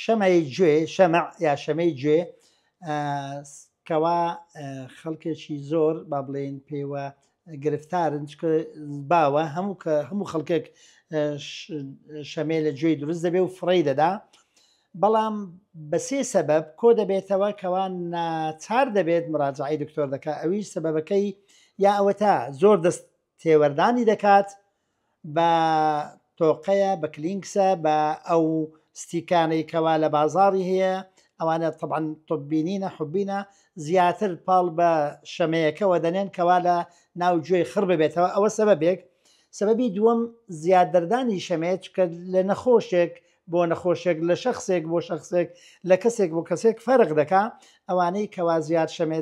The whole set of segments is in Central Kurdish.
شەمەی گوێ شەمە یا شەمەی گوێ کەوا خەڵکێکی زۆر با بڵێن پێوە گرفتارن باوە هەموو کە هەموو خەڵکێک شەمێ لە گوێی دروست دەبێ و فڕی دەدا بەڵام بە سێ سەبەب کۆ دەبێتەوە کەوان ناچار دەبێت مراجعی دکتۆر دەکە ئەویش سەبەکەی یا ئەوەتا زۆر دەست تێوەردانی دەکات بە تۆقەیە بە کلینکسە بە ئەو ستیکانەی کەوا لە بازاری هەیە ئەوانە طبعا طبینینە حبینە زیاتر پاڵ بە شەمەیەکەوە دەنێن کەوا لە ناو گوێی خڕ ببێتەوە ئەوە سەبەبێک سەبەبی دووەم زیاد دەردانی شەمەیە چکە لە نەخۆشێک بۆ نەخۆشێک لە شەخسێک بۆ شەخسێک لە کەسێک بۆ کەسێک فەرق دەکا ئەوانەی کەوا زیاد شەمێ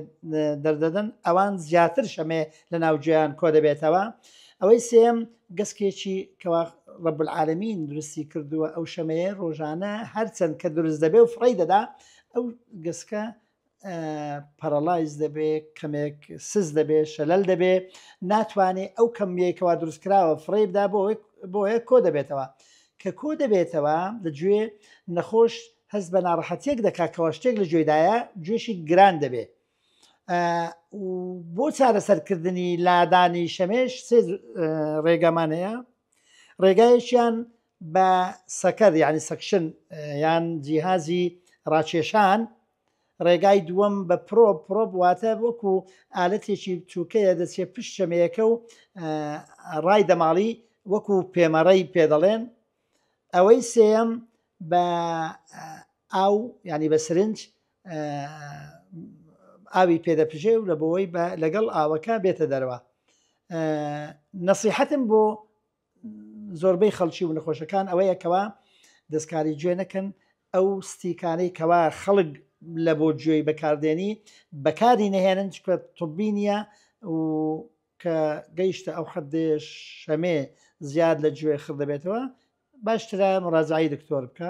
دەردەدەن ئەوان زیاتر شەمێ لە ناوجیان کۆ دەبێتەوە ئەوەی سێم گەسکێکی کەوا ڕب العالمین درستی کردووە ئەو شەمەیە ڕۆژانە هەرچەند کە دروست دەبێ و فڕی دەدا ئەو گەسکە پەرەڵایز دەبێ کەمێک سز دەبێ شەلەل دەبێ ناتوانێت ئەو کەمیەکەوا دروستکراوە فڕێبدا بۆ بۆیە کۆ دەبێتەوە کە کۆ دەبێتەوە لە گوێ نەخۆش هەست بە ناڕەحەتێک دەکاتەوە شتێک لە گوێدایە گوێشی گران دەبێ بۆ چارەسەرکردنی لادانی شەمێش سێ ڕێگەمان هەیە ڕێگایشیان بە سەکەر یانی سەکشن یان جیهازی ڕاکێشان، ڕێگای دووەم بە پرۆب، پرۆب واتە وەکو ئالەتێکی بچووکەیە دەچێت پشت چەمێکە و ڕای دەماڵی وەکو پێمەڕەی پێ دەڵێن، ئەوەی سێیەم بە ئاو یانی بە سرنج ئاوی پێ دەپژێ و لە بۆی لەگەڵ ئاوەکە بێتە دەرەوە نەسیحەتم بۆ زۆربەی خەڵکی و نەخۆشەکان ئەوەیە کەوا دەستکاری گوێ نەکەن ئەو ستیکانەی کەوا خەڵک لە بۆ گوێی بەکاردێنی بەکاری نەهێنن چکە طبی نییە و کە گەیشتە ئەو حەدێ شەمێ زیاد لە گوێ خڕ دەبێتەوە باشترە مڕازایی دکتۆر بکە